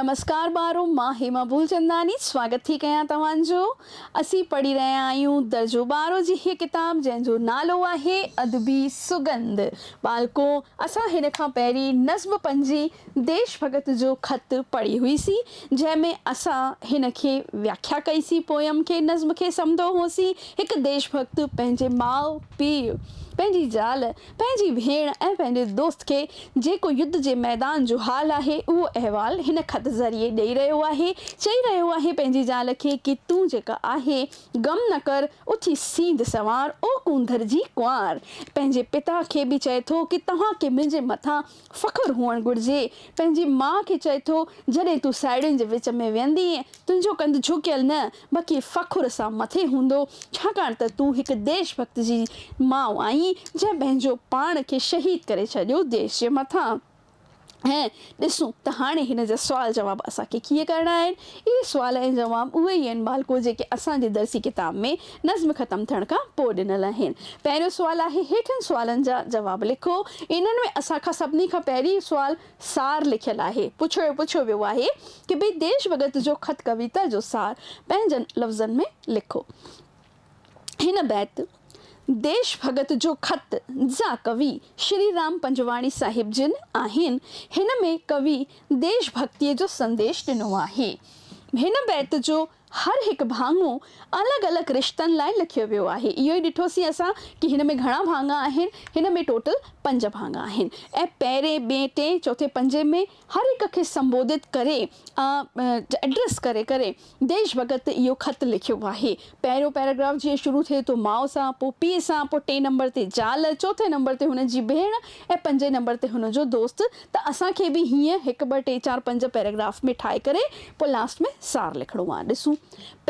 نمسڪار ٻارو مان هيما ڀولچنداني سواگت ٿي ڪيان توهان جو اسين پڙهي رهيا آهيون درجو ٻارهون جي هيء ڪتاب جنهن جو نالو آهي ادبي سڳنڌ ٻالڪو اسان هن کان پهرين نظم پنجي ديش ڀڳت جو خط پڙهي هئي سين جنهن ۾ اسان هن کي وياکيا ڪئي سين پوئم کي نظم کي سمڌو هوسين هڪ ديش ڀڳت پنهنجي ماء پيء پنهنجي زال پنهنجي ڀيڻ ۽ پنهنجي دوست کي جيڪو يڌ جي ميدان جو حال آهي اهو احوال هن خط ذريعي ڏئي رهيو آهي، چئي رهيو آهي پنهنجي زال کي ڪي تون جيڪا آهي غم نه ڪر اٿي سينڌ سنوار او ڪونڌر جي ڪنوار پنهنجي پتا کي به چئي ٿو ڪي توهان کي منهنجي مٿان فخر هئڻ گهرجي. پنهنجي ماء کي چئي ٿو، جڏهن تون ساهيڙين جي وچ ۾ ويهندينء، تنهنجو ڪنڌ جهڪيل نه، بلڪه فخر سان مٿي هوندو، ڇاڪاڻ ته تون هڪ ديش ڀڳت جي ماء آهين، جنهن پنهنجو پاڻ کي شهيد ڪري ڇڏيو ديش جي مٿان. ۽ ڏسون ته هاڻي هن جا سوال جواب اسان کي ڪيئن ڪرڻا آهن. اهي سوال ۽ جواب اهي ئي آهن ٻالڪو جيڪي اسان جي درسي ڪتاب ۾ نظم ختم ٿيڻ کان پوء ڏنل آهن. پهريون سوال آهي هيٺين سوالن جا جواب لکو. انهن ۾ اسان کان سڀني کان پهرين سوال سار لکيل آهي. پڇيو پڇيو ويو آهي ته ڀي ديش ڀڳت جو خط ڪويتا جو سار پنهنجن لفظن ۾ لکو. هن بيت، ديش ڀڳت جو خط، جا ڪوي شري رام پنجواڻي صاحب جن آهن. هن ۾ ڪوي ديش ڀڳتيء جو سنديش ڏنو آهي. هن بيت جو هر هڪ ڀاڱو الڳ الڳ رشتن لاء لکيو ويو آهي. اهو ئي ڏٺوسين اسان ڪي هن ۾ گهڻا ڀاڱا آهن. هن ۾ ٽوٽل پنج ڀاڱا آهن ۽ پهرين، ٻئين، ٽئين، چوٿين، پنجين ۾ هر هڪ کي سنبودت ڪري ۽ ائڊريس ڪري ڪري ديش ڀڳت اهو خط لکيو آهي. پهريون پيراگراف جيئن شروع ٿئي ٿو ماء سان، پوء پيء سان، پوء ٽئين نمبر تي زال، چوٿين نمبر تي هن جي ڀيڻ ۽ پنجين نمبر تي هن جو دوست ته اسان کي به هيئن هڪ ٻه ٽي چار پنج پيراگراف ۾ ٺاهي ڪري پوء لاسٽ ۾ سار لکڻو آهي. ڏسون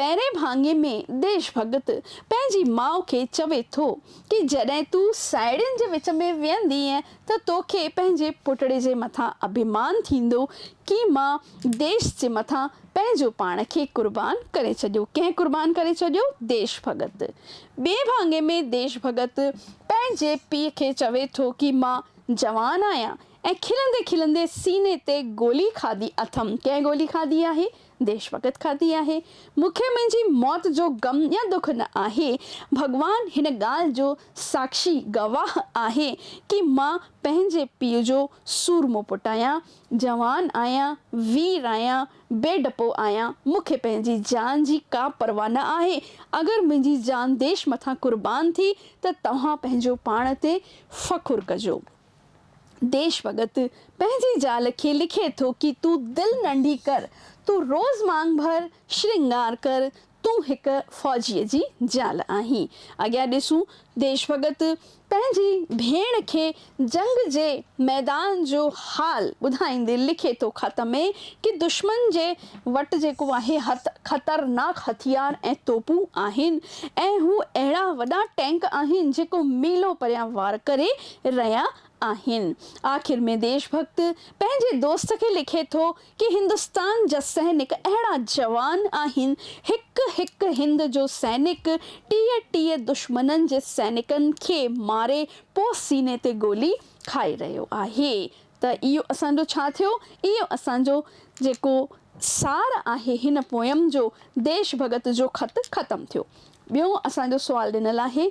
پهرئين ڀاڱي ۾ ديش ڀڳت پنهنجي ماء کي چوي ٿو ڪي جڏهن تون ساهيڙين جي وچ ۾ ويهندينء ته توکي پنهنجي پٽڙي جي مٿان اڀيمان ٿيندو ڪي مان ديش جي مٿان پنهنجو پاڻ کي قربان ڪري ڇڏيو. ڪنهن قربان ڪري ڇڏيو؟ ديش ڀڳت. ٻئي ڀاڱي ۾ ديش ڀڳت پنهنجي پيء کي چوي ٿو ڪي مان جوان آهيان ۽ کلندي کلندي سيني تي گولي کاڌي اٿم. ڪنهن گولي کاڌي آهي؟ ديش وقت کاتي آهي. مون کي منهنجي موت جو غم يا دک نه آهي. ڀڳوان هن ڳالهه جو ساکشي، گواهه، آهي ڪي مان پنهنجي پيء جو سورمو پٽ آهيان، جوان آهيان، وير آهيان، بي ڊپو آهيان، مون کي پنهنجي جان جي ڪا پرواهه نه آهي، اگر منهنجي جان ديش مٿان قربان ٿي ته توهان پنهنجو پاڻ تي فخر ڪجو. ديش ڀڳت پنهنجي زال کي لکي ٿو ڪي تون دل ننڍي ڪر، تون روز مانگ ڀر، شرنگار ڪر، تون هڪ فوجيء جي زال آهين. اڳيان ڏسون ديش ڀڳت پنهنجي ڀيڻ کي جنگ جي ميدان جو حال ٻڌائيندي لکي ٿو خط ۾ ڪي دشمن جي وٽ جيڪو آهي خطرناڪ هٿيار ۽ توپون آهن ۽ هو اهڙا وڏا ٽينڪ آهن جيڪو ميلو پريان وار ڪري رهيا آهن. آخر ۾ ديش ڀڳت پنهنجي دوست کي لکي ٿو ڪي هندستان جا سئنڪ اهڙا جوان آهن، هڪ هڪ هند جو سئنڪ ٽيهه ٽيهه دشمنن جي سئنڪن کي ماري پوء سيني تي گولي کائي رهيو آهي ته اهو اسان جو ڇا ٿيو؟ اهو اسان جو جيڪو سار آهي هن پوئم جو ديش ڀڳت جو خط ختم ٿيو. ٻيو اسان جو سوال ڏنل آهي.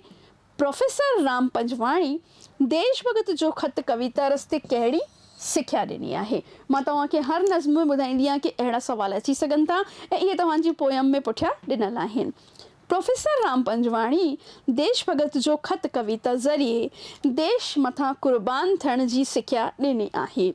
پروفيسر رام پنجواڻي ديش ڀڳت جو خط ڪويتا رستي ڪهڙي سکيا ڏني آهي؟ مان توهان کي هر نظم ۾ ٻڌائيندي آهيان ڪي اهڙا سوال اچي سگهن ٿا ۽ اهي توهان جي پوئم ۾ پٺيان ڏنل آهن. پروفيسر رام پنجواڻي ديش ڀڳت جو خط ڪويتا ذريعي ديش مٿان قربان ٿيڻ جي سکيا ڏني آهي.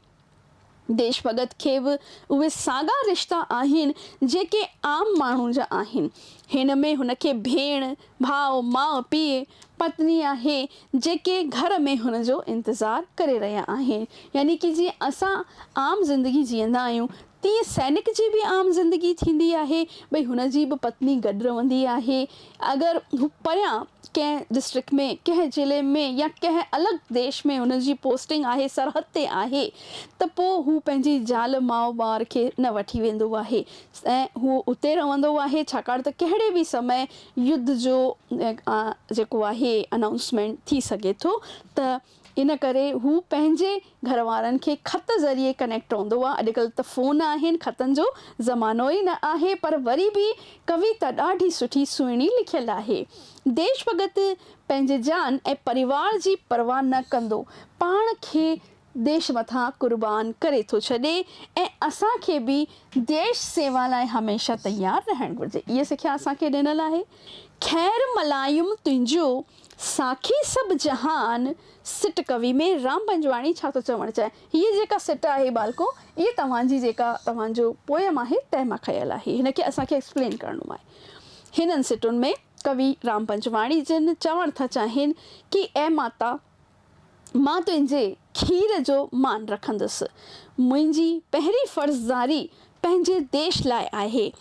ديش ڀڳت کي به اهي ساڳا رشتا آهن جيڪي عام ماڻهو جا آهن. هن ۾ هن کي ڀيڻ، ڀاء، ماء، پيء، پتني آهي جيڪي گهر ۾ هن جو انتظار ڪري رهيا آهن. يعني ڪي جيئن اسان عام زندگي جيئندا آهيون تيئن سينڪ جي به عام زندگي ٿيندي آهي، ڀئي هن جي به پتني گڏ رهندي آهي. اگر هو پريان ڪنهن ڊسٽرڪٽ ۾ ڪنهن ضلعي ۾ يا ڪنهن الڳ ديش ۾ هن جي پوسٽنگ آهي، سرحد تي آهي ته پوء هو پنهنجي زال ماء ٻار کي نه وٺي ويندو آهي ۽ هو اتي رهندو آهي ڇاڪاڻ ته ڪهڙي به سمئي يڌ جو جيڪو آهي انائونسمينٽ ٿي سگهي ٿو ته ان ڪري هو پنهنجي گهروارن کي خط ذريعي ڪنيڪٽ رهندو هو. اڄڪلهه ته فون آهن، خطن جو زمانو ئي نه آهي، پر وري به ڪويتا ڏاڍي سٺي سهڻي لکيل آهي. ديش ڀڳت پنهنجي جان ۽ پريوار جي پرواهه نه ڪندو پاڻ کي ديش مٿان قربان ڪري ٿو ڇڏي ۽ اسان کي به ديش سيوا لاء هميشه تيار رهڻ گهرجي. اها سکيا اسان کي ڏنل آهي. خير ملايم تنهنجو ساکي سڀ جهان سٽ ڪوي ۾ رام پنجواڻي ڇا ٿو چوڻ چاهي؟ هيء جيڪا سٽ آهي ٻالڪو اهي توهان جي جيڪا توهان جو پوئم آهي تنهن مان کنيل آهي. هن کي اسان کي ايڪسپلين ڪرڻو آهي. هنن سٽن ۾ ڪوي رام پنجواڻي جن چوڻ ٿا چاهين ڪي اي ماتا! مان تنهنجي کير جو مان رکندس. منهنجي پهرين فرضداري پنهنجي ديش لاء آهي.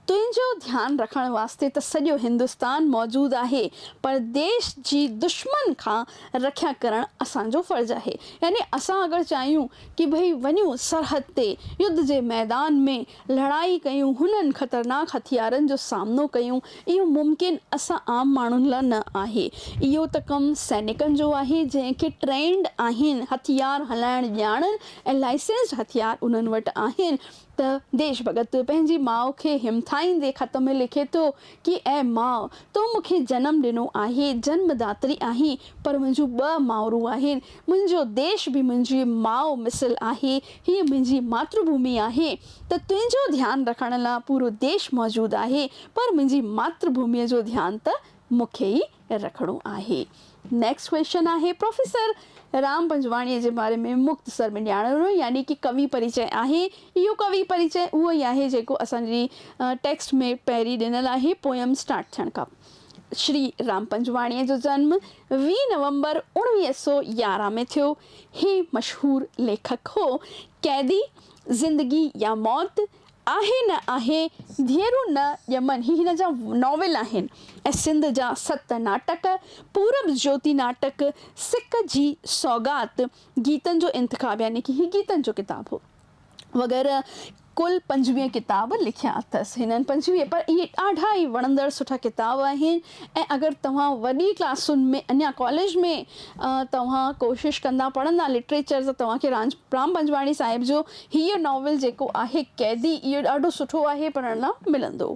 تنهنجو ڌيان رکڻ واسطي ته سڄو هندستان موجود آهي پر ديش جي دشمن کان رکيا ڪرڻ اسان جو فرض آهي. يعني اسان اگر چاهيون ڪي ڀئي وڃون سرحد تي يڌ جي ميدان ۾. لڙائي ڪيون، هنن خطرناڪ هٿيارن جو سامنو ڪيون، اهو ممڪن اسان عام ماڻهن لا نه آهي. اهو ته ڪم سينيڪن جو آهي، جنهن کي ٽرينڊ آهن، هٿيار هلائڻ ڄاڻن ۽ لائسنسڊ هٿيار انهن وٽ آهن ته ديش ڀڳت پنهنجي ماء کي همٿائيندي خط ۾ لکي ٿو ڪي اي ماء! تو مون کي جنم ڏنو آهي، جنم داتري آهين، پر منهنجون ٻه مائرون آهن. منهنجو ديش به منهنجي ماء مثل آهي. هيء منهنجي ماتر ڀومي آهي، ته تنهنجو ڌيان رکڻ لاء پورو ديش موجود آهي، پر منهنجي ماتر ڀوميء جو ڌيان ته مون کي ئي رکڻو آهي. نيڪسٽ ڪويشن آهي پروفيسر رام پنجواڻيء جي باري ۾ مختصر ۾ ڄاڻڻ وارو يعني ڪي ڪوي پريچئه آهي. اهو ڪوي پريچئه اهو ئي آهي جيڪو اسان جي ٽيڪسٽ ۾ پهرين ڏنل آهي پوئم اسٽارٽ ٿيڻ کان پوء. شري رام پنجواڻيء جو جنم ويهه نومبر اوڻويهه سؤ يارهن ۾ ٿيو. هي مشهور ليکڪ هو. قيدي، زندگي يا موت، آهي نه آهي ڌيئرون نه ڄمن هي هن جا ناول آهن ۽ سنڌ جا ست ناٽڪ، پورب جيوتي ناٽڪ، سڪ جي سوغات، گيتن جو انتخاب يعني ڪي هي گيتن جو ڪتاب هو وغيره ڪل پنجويهه ڪتاب لکيا اٿس هنن پنجويهه پر اهي ڏاڍا ئي وڻندڙ سٺا ڪتاب آهن. ۽ اگر توهان وڏي ڪلاسن ۾ اڃا ڪاليج ۾ توهان ڪوشش ڪندا پڙهندا لٽريچر ته توهان کي رانج رام پنجواڻي صاحب جو هيء ناول جيڪو آهي قيدي اهو ڏاڍو سٺو آهي پڙهڻ لا ملندو.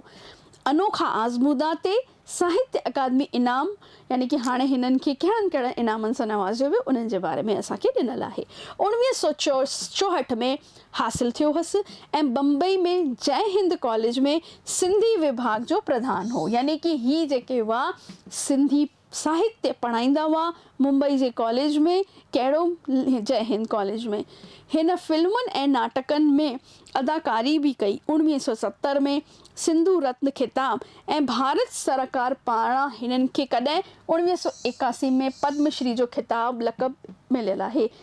انوکا آزمودا تي ساهتيه اڪادمي انعام يعني ڪي هاڻي هنن کي ڪهڙن ڪهڙن انعامن سان نوازيو ويو انهن جي باري ۾ اسان کي ڏنل آهي. اوڻويهه سؤ چوهٺ ۾ حاصل ٿيو هوس ۽ بمبئي ۾ جئه هند ڪاليج ۾ سنڌي وڀاڳ جو پرڌان هو يعني ڪي هي جيڪي هئا سنڌي ساهتيه پڙهائيندا هئا ممبئي جي ڪاليج ۾ ڪهڙو جئه هند ڪاليج ۾ هن فلمن ۽ ناٽڪن ۾ اداڪاري به ڪئي اوڻويهه سؤ ستر ۾ سنڌو رتن خطاب ۽ ڀارت سرڪار پاران هنن کي ڪڏهن اوڻويهه سؤ ايڪاسي ۾ پدم شري جو خطاب لقب مليل آهي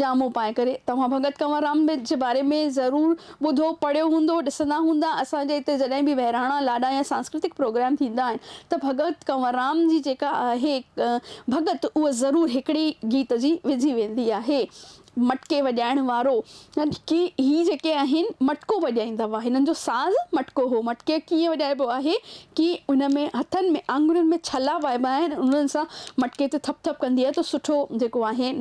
جامو پائي ڪري توهان ڀڳت ڪنور رام جي باري ۾ ضرور ٻڌو پڙهيو هوندو ڏسندا هوندا اسان جي هتي جڏهن به وهراڻا لاڏا يا سانسڪرتڪ پروگرام ٿيندا آهن ته ڀڳت ڪنور رام جي جيڪا آهي ڀڳت اها ضرور هڪڙي گيت جي وجهي ويندي آهي مٽڪي وڄائڻ وارو ڪي هي جيڪي آهن مٽڪو وڄائيندا هئا هنن جو ساز مٽڪو هو مٽڪي ڪيئن وڄائبو آهي ڪي ان ۾ هٿن ۾ آڱرين ۾ ڇلا وائبا آهن ۽ انهن سان مٽڪي تي ٿپ ٿپ ڪندي آهي ته سٺو جيڪو آهي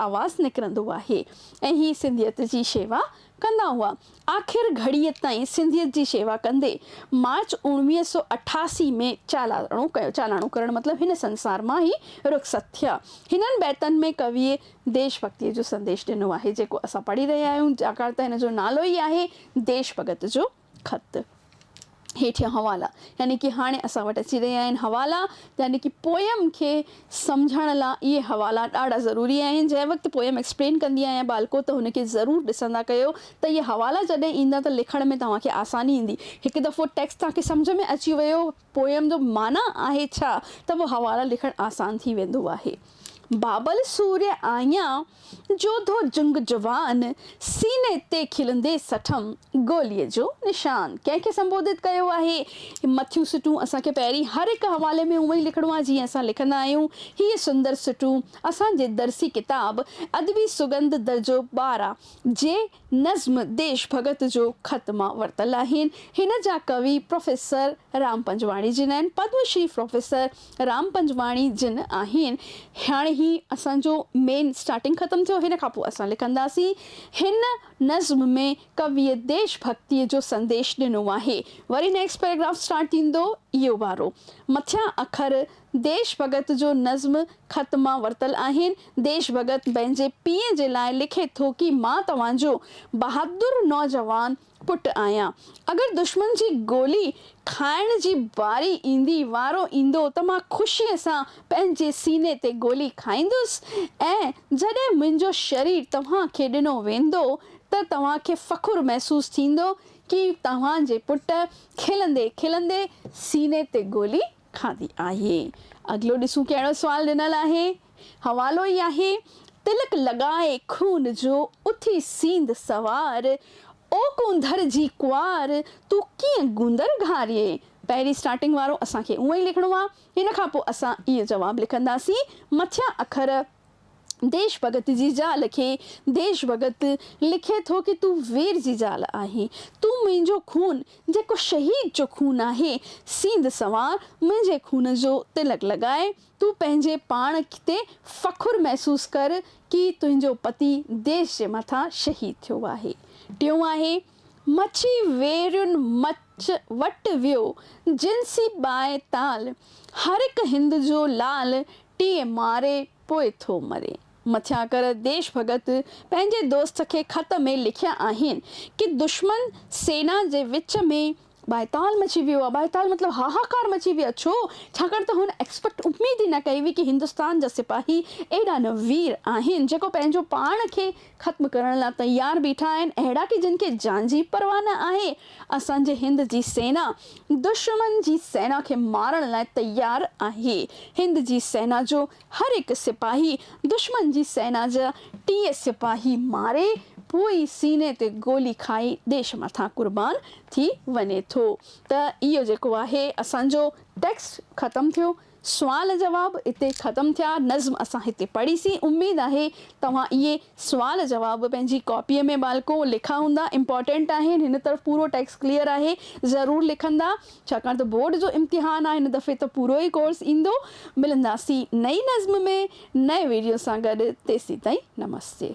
آواز نڪرندو آهي ۽ هي سنڌيت جي شيوا ڪندا هئا آخر گهڙيء تائين سنڌيت جي شيوا ڪندي مارچ اوڻويهه سؤ اٺاسي ۾ چالاڻو ڪيو چالاڻو ڪرڻ مطلب هن سنسار مان هي رخصت ٿيا هنن بيتن ۾ ڪويء ديش ڀڳتيء جو سنديش ڏنو آهي جيڪو اسان پڙهي رهيا آهيون ڇاڪاڻ ته هن جو نالو ئي آهي ديش ڀڳت جو خط، هيٺيان حوالا، يعني ڪي هاڻي اسان وٽ اچي رهيا آهن. حوالا، يعني ڪي پوئم کي سمجهڻ لا اهي حوالا ڏاڍا ضروري آهن. جنهن وقت پوئم ايڪسپلين ڪندي آهيان ٻالڪو ته هن کي ضرور ڏسندا ڪيو ته اهي حوالا جڏهن ايندا ته لکڻ ۾ توهان کي آساني ايندي. هڪ دفعو ٽيڪسٽ توهان کي سمجهه ۾ اچي ويو. پوئم جو معنيٰ آهي ڇا ته پوء حوالا لکڻ آسان ٿي ويندو آهي. بابل سوريء آهيان، جوڌو جنگ جوان، سيني تي کلندي سٺم، گوليء جو نشان ڪنهن کي سنبوڌت ڪيو آهي؟ هي مٿيون سٽون اسان کي پهرين هر هڪ حوالي ۾ اونئين لکڻو آهي جيئن اسان لکندا آهيون. هيء سندر سٽون اسان جي درسي ڪتاب ادبي سڳنڌ درجو ٻارهن جي نظم ديش ڀڳت جو خط مان ورتل آهن. هن جا ڪوي پروفيسر رام پنجواڻي جن آهن. پدم شري پروفيسر رام پنجواڻي جن آهن. هاڻي هي اسان جو مين اسٽارٽنگ ختم ٿيو. هن کان پوء اسان لکنداسين. هن نظم ۾ ڪويء ديش ڀڳتيء جو سنديش ڏنو آهي. وري نيڪسٽ پيراگراف اسٽارٽ ٿيندو اهو وارو. مٿيان اکر ديش ڀڳت جو نظم خط مان ورتل آهن. ديش ڀڳت پنهنجي پيء جي لاء لکي ٿو ڪي مان توهان جو بهادر نوجوان پٽ آهيان. اگر دشمن جي گولي کائڻ جي واري ايندي، وارو ايندو ته مان خوشيء سان پنهنجي سيني تي گولي کائيندس ۽ جڏهن منهنجو شرير توهان کي ڏنو ويندو ته توهان کي فخر محسوس ٿيندو ڪي توهان جي پٽ کلندي کلندي سيني تي گولي کاندي آهي. اڳلو ڏسون ڪهڙو سوال ڏنل آهي. حوالو ئي آهي، تلڪ لڳائي خون جو، اٿي سيند سوار، او ڪونڌر جي ڪوار، تون ڪيئن گوندر گهاريئي؟ پهرين اسٽارٽنگ وارو اسان کي اونئن ئي لکڻو آهي. هن کان پوء اسان اهو جواب لکنداسين. مٿيان اکر. ديش ڀڳت جي زال کي ديش ڀڳت لکي ٿو ڪي تون وير جي زال آهين، تون منهنجو خون جيڪو شهيد جو خون آهي، سينڌ سنوار منهنجي خون جو تلڪ لڳاء، تون پنهنجي پاڻ تي فخر محسوس ڪر ڪي تنهنجو پتي ديش جي مٿان شهيد ٿيو آهي. ٽيون آهي. مڇي ويرين مچ وٽ ويو جنسي ٻانهه تال هرهڪ هند جو لال ٽيئي ماري پوء ٿو مري مٿيان ڪر ديش ڀڳت پنهنجي دوست کي خط ۾ لکيا آهن ڪي دشمن سينا جي وچ ۾ ٻائتال مچي ويو آهي، ٻائتال مطلب هاهاڪار مچي ويو آهي، ڇو؟ ڇاڪاڻ ته هن ايڪسپيڪٽ، اميد ئي نه ڪئي هئي ڪي هندستان جا سپاهي ايڏا نه وير آهن، جيڪو پنهنجو پاڻ کي ختم ڪرڻ لا تيار بيٺا آهن، اهڙا ڪي جن کي جان جي پرواهه نه آهي، اسان جي هند جي سينا دشمن جي سينا کي مارڻ لا تيار آهي، هند جي سينا جو هر هڪ سپاهي دشمن جي سينا جا ٽيهه سپاهي ماري پوء ئي سيني تي گولي کائي ديش مٿان قربان ٿي وڃي ٿو ته اهو جيڪو آهي اسان جو ٽيڪسٽ ختم ٿيو سوال جواب اتي ختم ٿيا نظم اسان هتي پڙهيسين اميد آهي توهان اهي سوال جواب پنهنجي ڪاپيء ۾ ٻالڪو لکا هوندا امپارٽنٽ آهن هن طرف پورو ٽيڪسٽ ڪليئر آهي ضرور لکندا ڇاڪاڻ ته بورڊ جو امتحان آهي هن دفعي ته پورو ئي ڪورس ايندو ملنداسين نئين نظم ۾ نئين ويڊيو سان گڏ تيسيتائين نمستي.